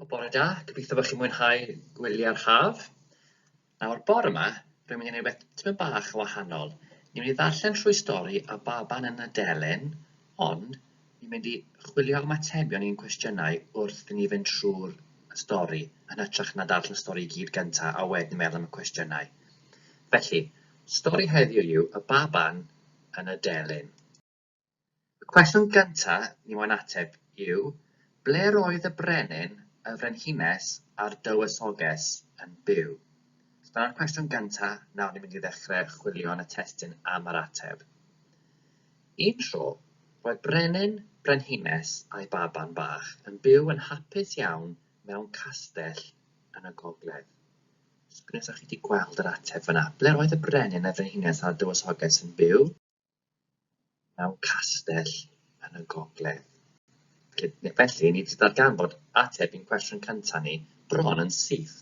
Wel, bore da. Gobeithio bod chi'n mwynhau gwyliau'r haf. Nawr, bore yma, rwy'n mynd i wneud rhywbeth tipyn bach o wahanol. Ni'n mynd i ddarllen trwy stori a baban yn y delyn, ond ni'n mynd i chwilio am atebion i'n cwestiynau wrth i ni fynd trwy'r stori, yn hytrach na darllen y stori i gyd gyntaf a wedyn meddwl am y cwestiynau. Felly, stori heddiw yw Y Baban yn y Delyn. Y cwestiwn gyntaf ni moyn ateb yw, ble roedd y brenin, y frenhines a'r dywysoges yn byw? So dyna'r cwestiwn gyntaf, nawr ni'n mynd i ddechrau chwilio yn y testun am yr ateb. Un tro, roedd brenin, brenhines a'i baban bach yn byw yn hapus iawn mewn castell yn y gogledd. Sgwniwch os chi wedi gweld yr ateb fyna. Ble roedd y brenin, y frenhines a'r dywysoges yn byw? mewn castell yn y gogledd. Felly, ni wedi darganfod ateb i'n cwestiwn cyntaf ni bron yn syth.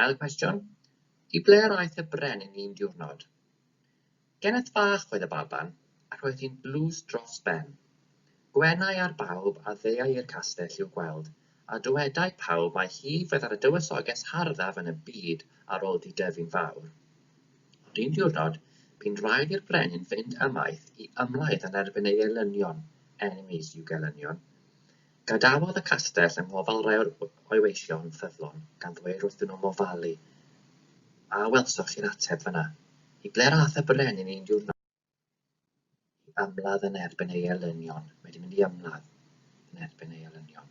Ail cwestiwn, i ble yr aeth y brenin un diwrnod? Geneth fach oedd y baban, ac roedd hi'n dlws dros ben. Gwenai ar bawb a ddeuai i'r castell i'w gweld, a dywedai pawb mai hi fyddai'r y dywysoges harddaf yn y byd ar ol di-defu'n fawr. Ond un diwrnod, bu'n rhaid i'r brenin fynd ymaith i ymladd yn erbyn ei elynion, enemies you gelynion. Gadawodd y castell yng ngofal rai o'r oeweision ffyddlon, gan ddweir wrthyn nhw mofalu. A welsoch chi'r ateb fan'na? I ble'r a'th y brenin un diwrnod? mynd i ymladd yn erbyn ei elynion, mae 'di mynd i ymladd yn erbyn ei elynion.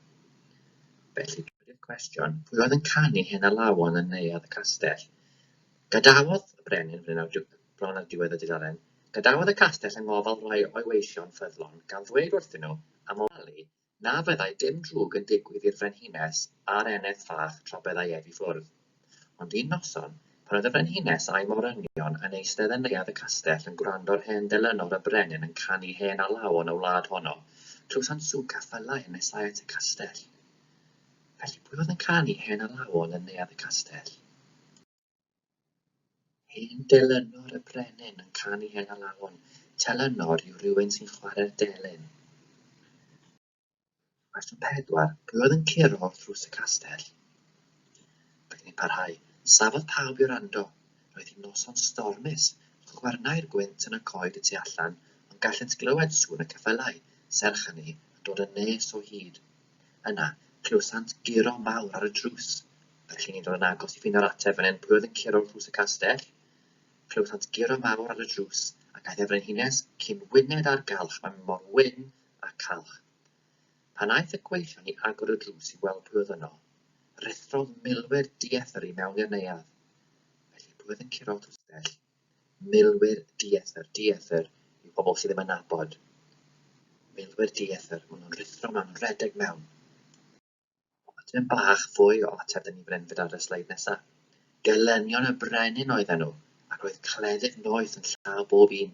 Felly, dywedir cwestiwn, pwy oedd yn canu hen alawon yn neuadd y castell? Gadawodd y brenin, fan hyn ar bron ar diwedd y dudalen, gadawodd y castell yng ngofal rhai o'i weision ffyddlon gan ddweud wrthyn nhw am ofalu Na fyddai dim drwg yn digwydd i'r frenhines a'r eneth fach tra byddai ef i ffwrdd. Ond un noson, pan oedd y frenhines a'i morynion yn eistedd yn neuadd y castell yn gwrando ar hen delynor y brenin yn canu hen alawon y wlad honno, clywsant swc a ffylau yn nesáu at y castell. Felly, pwy oedd yn canu hen alawon yn neuadd y castell? Hen delynor y brenin yn canu hen alawon. Telynor yw rhywun sy'n chwarae'r delyn. Cwestiwn 4. Pwy oedd yn curo wrth ddrws y castell? Byddwn ni'n parhau. Safodd pawb i wrando. Roedd hi'n noson stormus. Chwyrnai'r gwynt yn y coed y tu allan, ond gallent glywed sŵn y ceffylau, serch hynny, yn dod yn nes o hyd. Yna, clywsant guro mawr ar y drws. Mae rhein yn dod yn agos i ffeindo'r ateb fan hyn. Pwy oedd yn curo wrth ddrws y castell? Clywsant guro mawr ar y drws, ac aeth y frenhines cyn wyned â'r galch, mae mor wyn a calch. Pan aeth y gweillion i agor y drws i weld pwy oedd yno, rhuthrodd milwyr diethr i mewn i'r neuadd. Felly, pwy oedd yn curo wrth ddrws y castell? Milwyr diethr, diethr yw pobl sydd ddim yn nabod. Milwyr diethr, maen nhw'n rhuthro, maen nhw'n rhedeg mewn. Tipyn bach fwy o ateb da ni'n fan hyn gyda ar y sleid nesa. Gelynion y brenin oedden nhw, ac roedd cleddyf noeth yn llaw bob un.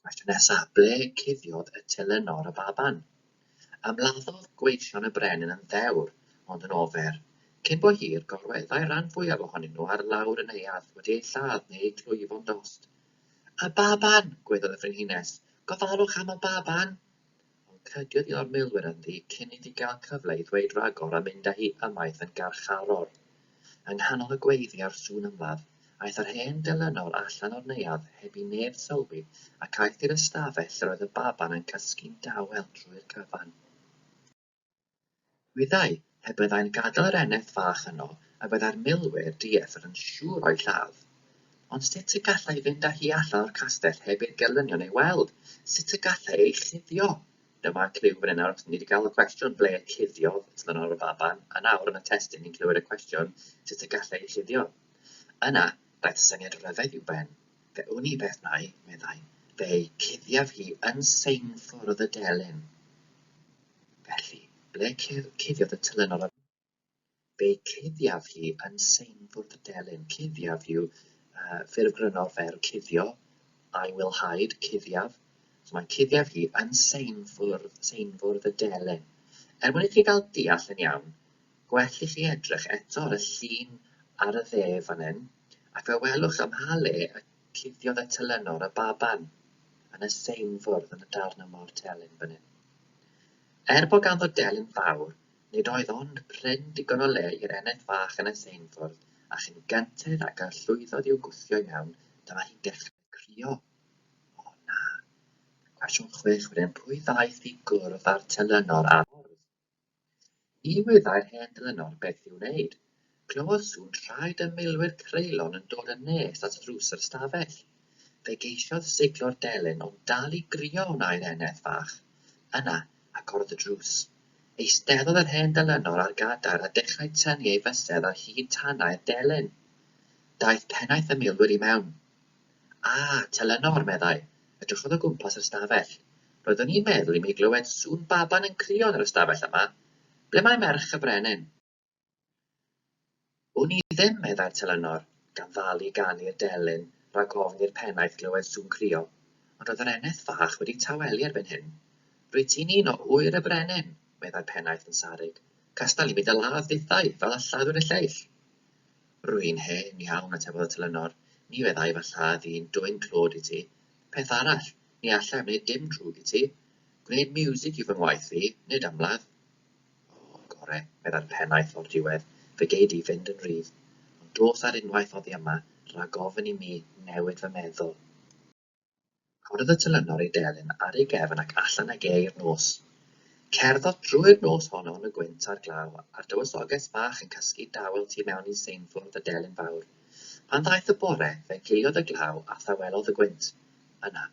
Cwestiwn nesa, ble cuddiodd y telynor y baban? Ymladdodd gweision y brenin yn ddewr, ond yn ofer. Cyn bo hir, gorweddai ran fwyaf ohonyn nhw ar lawr yn neuadd wedi eu lladd neu eu clwyfo'n dost. Y baban! gweddol y frenhines. Gofalwch am y baban! Ond crediodd un o'r milwyr ynddi cyn iddi gael cyfle i ddweud ragor a mynd â hi ymaith yn garcharor. Yng nghanol y gweiddi a'r sŵn ymladd, aeth yr hen delynor allan o'r neuadd heb i neb sylwi ac aeth i'r ystafell lle roedd y baban yn cysgu'n dawel drwy'r cyfan. Wyddai, pe byddai'n gadael yr eneth fach yno y byddai'r milwyr dieithr yn siŵr o'i lladd. Ond sut y gallai fynd â hi allan o'r castell heb i'r gelynion ei weld? Sut y gallai ei chuddio? Dyma cliw fan hyn nawr, achos ni 'di gael y cwestiwn ble cuddiodd Tlenor y baban, a nawr yn y testun ni'n clywed y cwestiwn sut y gallai ei chuddio. Yna, daeth syniad ryfedd i'w ben. Fe wn i beth nai, meddai, fe'i cuddiaf hi yn seinfwrdd y delyn. Felly, ble cuddiodd y telynor arni? Fe cuddiaf hi yn seinfwrdd y delyn. Cuddiaf yw uh, ffurf grynno o'r ferf cuddio. I will hide, cuddiaf. So mae cuddiaf hi yn seinfwrdd, seinfwrdd y delyn. Er mwyn i chi gael deall yn iawn, gwell i chi edrych eto ar y llun ar y dde fan hyn, ac fe welwch ym mha le y Cuddiodd eto Lenor a baban yn y same fwrdd yn y darn o mor telyn fan hyn. Er bo ganddo delyn fawr, nid oedd ond prin digon o le i'r eneth fach yn y same fwrdd, a chyn gynted ag y llwyddodd i'w gwthio i mewn, dyma hi'n dechrau crio. O na! Cwestiwn chwech wedyn, pwy ddaeth i gwrdd â'r telynor ar y ffordd? Ni wyddai'r hen ddynol beth i'w wneud. Clywodd sŵn traed y milwyr creulon yn dod yn nes at ddrws yr ystafell. Fe geisiodd siglo'r delyn ond dal i grio wnaeth eneth fach. Yna, agorodd y drws. Eisteddodd yr hen ddylynol ar gadair a dechrau tynnu ei fysedd ar hyd tanau'r delyn. Daeth pennaeth y milwyr i mewn. A, Telenor, meddai. Edrychodd o gwmpas yr ystafell. Roeddwn i'n meddwl i mi glywed sŵn baban yn crio yn yr ystafell yma. Ble mae merch y brenin? Wn i ddim, meddai'r Telenor, gan ddalu gan i'r delyn rag ofn i'r pennaeth glywed sŵn crio. Ond roedd yr eneth fach wedi tawelu erbyn hyn. Rwyt ti'n un o ŵyr y brenin, meddai'r pennaeth yn sarug. Castal i mi dy ladd dithau, fel y lladdwyd y lleill. Rwy'n hen iawn, atebodd y telynor. Ni feddai fy lladd i'n dwyn clod i ti. Peth arall, ni alla i wneud dim drwg i ti. Gwneud miwsig yw fy ngwaith fi, nid ymladd. O, gore, meddai'r pennaeth o'r diwedd, fe gei di fynd yn rhydd. Ond dos ar unwaith oddi yma, rhag ofn i mi newid fy meddwl. Corodd y telynor ei delyn ar ei gefn ac allan ag e i'r nos. Cerddodd drwy'r nos honno yn y gwynt a'r glaw, a'r dywysoges fach yn cysgu dawel tu mewn i seinfwrdd y delyn fawr. Pan ddaeth y bore, fe giliodd y glaw a thawelodd y gwynt. Yna,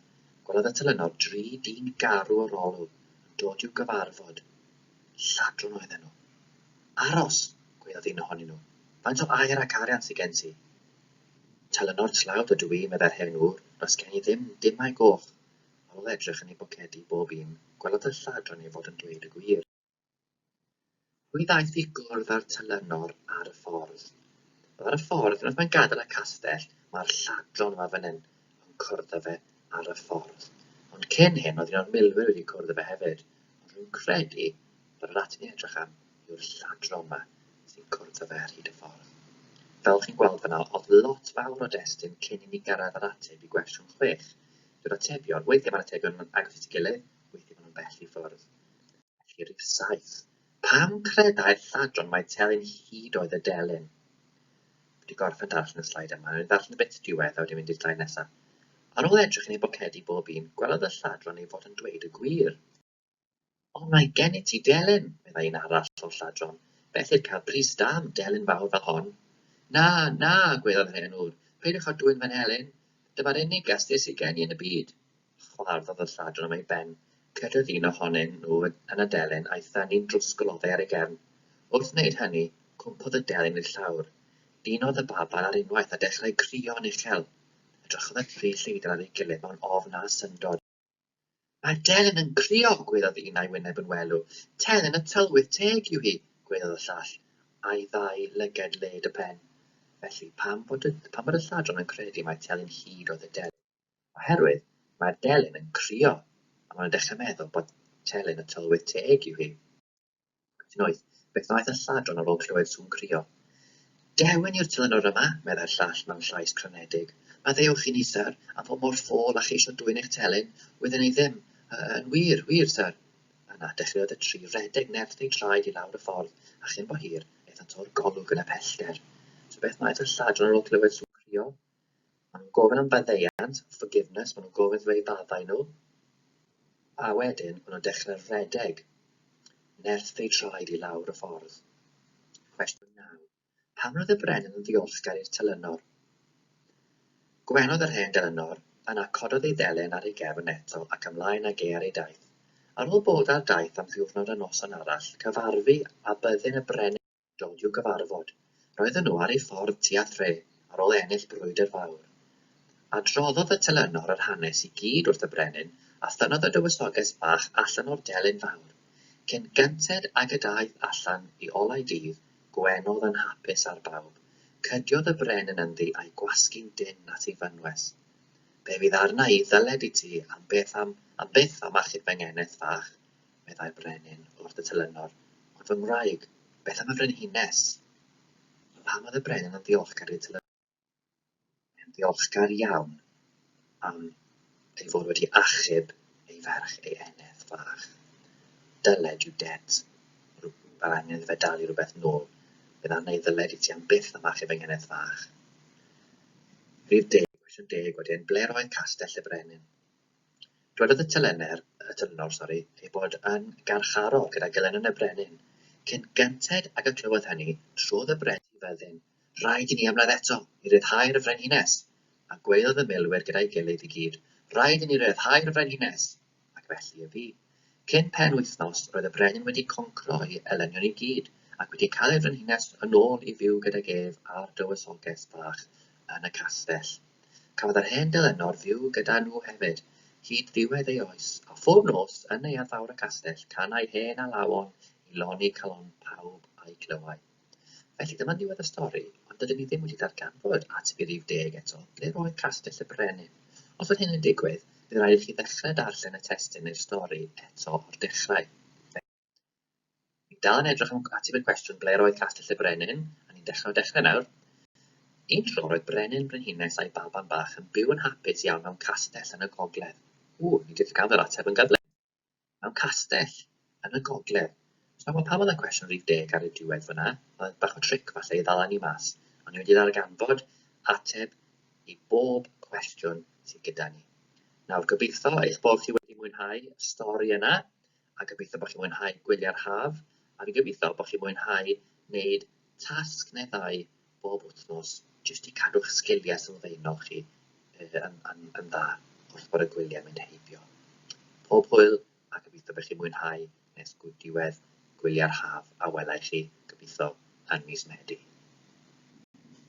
gwelodd y telynor dri dyn garw o'r olwg yn dod i'w gyfarfod. Lladron oedden nhw. Aros! gwaeddodd un ohonyn nhw. Faint o aur ac arian sy gen ti? Telynor tlawd ydw i, meddai'r hen ŵr, does gen i ddim dim au goch. Ar ôl edrych yn ei bocedi bob un, gwelodd y lladron ei fod yn dweud y gwir. Pwy ddaeth i gwrdd â'r telynor ar y ffordd? Wel, ar y ffordd, unwaith mae'n gadael y castell, mae'r lladron yma fan hyn yn cwrdd â fe ar y ffordd. Ond cyn hyn, oedd un o'r milwyr wedi cwrdd â fe hefyd, ond rwy'n credu Yr un rydyn ni'n edrych am yw'r lladron 'ma sy'n cwrdd â fe ar hyd y ffordd. Fel chi'n gweld fan'na, o'dd lot fawr o destun cyn i ni gyrraedd yr ateb i gwestiwn chwech. Dyw'r atebion, weithie ma'r atebion yn agos at ei gilydd, weithie ma' nhw'n bell i ffwrdd. Felly rif saith, pam credai'r lladron mai telyn hud oedd y delyn? Dwi wedi gorffen darllen y sleid yma, newn ni ddarllen y bit diwedd a wedyn mynd i'r sleid nesa. Ar ôl edrych yn eu bocedi bob un, gwelodd y lladron ei fod yn dweud y gwir. O, mae gen i ti delyn, meddai un arall o'r lladron, beth i'r cael bris da am delyn fawr fel hon? Na, na, gweddai'r hen ŵr, peidiwch â dwyn fy nhelyn, dyma'r unig gasgliad sydd gen i yn y byd. Chwarddodd y lladron am ei ben, cyrhaedd un ohonyn nhw yn y delyn a'i thynnu'n drwsgl oddi ar ei gefn. Wrth wneud hynny, cwmpodd y delyn i'r llawr. Dinodd y baban ar unwaith a dechrau crio'n uchel. Edrychodd y tri lleidr ar ei gilydd mewn ofn a syndod. Mae Delyn yn crio, gwelodd un a'i wyneb yn welw. Telyn y tylwyth teg yw hi, gwelodd y llall, a'i ddau lyged led y pen. Felly, pam bod y, pam bod y lladron yn credu mai Telyn hyd oedd y Delyn? Oherwydd, mae Delyn yn crio, a maen nhw'n dechrau meddwl bod Telyn y tylwyth teg yw hi. Beth yn oedd? Beth ddaeth y lladron ar ôl clywed sŵn crio? Dewi ni'r telynor yma, meddai'r llall mewn llais crynedig. Maddeuwch i ni, syr, am fod mor ffôl a cheisio dwyn eich telyn, wydden i ddim. Yn wir, wir, syr. Yna, dechreuodd y tri redeg nerth eu traed i lawr y ffordd, a chyn bo hir, aethant o'r golwg yn y pellter. So beth ddaeth y lladron ar ôl clywed sŵn crio? Ma' nhw'n gofyn am faddeuant, forgiveness, ma' nhw'n gofyn wrth roi faddau nhw, a wedyn ma' nhw'n dechre rhedeg, nerth eu traed i lawr y ffordd. Cwestiwn naw. Pam roedd y brenin yn ddiolchgar i'r telynor? Gwenodd yr hen delynor, yna cododd ei ddelen ar ei gefn eto ac ymlaen ag e ar ei daith. Ar ôl bod ar daith am ddiwrnod a noson arall, cyfarfu a byddin y brenin dod i'w gyfarfod. Roedden nhw ar eu ffordd tua thre ar ôl ennill brwydr fawr. Adroddodd y telynor yr hanes i gyd wrth y brenin a thynnodd y dywysoges bach allan o'r delyn fawr. Cyn gynted ag y daeth allan i olau dydd Gwener yn hapus ar bawb, cydiodd y brenin ynddi a'i gwasgu'n dynn at ei fynwes. Be fydd arna i ddyled i ti am byth am, am byth am achub fy ngeneth fach? meddai Brenin wrth y telynor, ond fy ngwraig, beth am y frenhines? A pam oedd y Brenin yn ddiolchgar i'r telynor? Mae e'n ddiolchgar iawn am ei fod wedi achub ei ferch ei eneth fach. Dyled, you debt, mae angen iddo fe dalu rhywbeth nôl. Bydd arna i ddyled i ti am byth am achub fy ngeneth fach. Rhydd deg, gwestiwn deg wedyn, ble'r oedd castell y Brenin? Dwedodd y telenr, y telynor, sori, ei bod yn garcharor gyda Gelynon y Brenin. Cyn gynted ag y clywodd hynny, trodd y brenin i fyddin. Rhaid i ni ymladd eto, i ryddhau'r frenhines! A gweiddodd y milwyr gyda'i gilydd i gyd, Rhaid i ni ryddhau'r frenhines! Ac felly y bu. Cyn penwythnos, roedd y brenin wedi concro'i elenion i gyd, ac wedi cael ei frenhines yn ôl i fyw gydag ef a'r dywysoges bach yn y castell. Cafodd yr hen delenor fyw gyda nhw hefyd, hyd ddiwedd ei oes, a phob nos, yn Neuadd Fawr y castell, canai hen alawon i loni calon pawb a'i glywai. Felly dyma ddiwedd y stori, ond dydyn ni ddim wedi darganfod ateb i rif deg eto, ble roedd Castell y Brenin? Os oedd hyn yn digwydd, bydd rhaid i chi ddechrau darllen y testun neu'r stori eto o'r dechrau. Felly, ni'n dal yn edrych am ateb y cwestiwn ble roedd Castell y Brenin, a ni'n dechrau o dechrau nawr. Un tro roedd brenin, brenhines a'i baban bach yn byw yn hapus iawn mewn castell yn y gogledd. Ww, ni 'di'r gael yr ateb yn gyflym! mewn castell yn y gogledd. Os na, wel pam oedd y cwestiwn rhif deg ar y diwedd fyna? Oedd bach o tric falle i ddala ni mas. Ond ni wedi ddarganfod ateb i bob cwestiwn sydd gyda ni. Nawr, gobeithio eich bod chi wedi mwynhau y stori yna, a gobeithio bod chi'n mwynhau gwylio'r haf, a fi'n gobeithio bod chi'n mwynhau wneud tasg neu ddau bob wythnos jyst i cadw'ch sgiliau sylfaenol chi yn yn yn dda wrth fod y gwyliau'n mynd heibio. Pob hwyl a gobeithio bych chi'n mwynhau nes gw diwedd gwyliau'r haf a welai chi, gobeithio, yn mis Medi.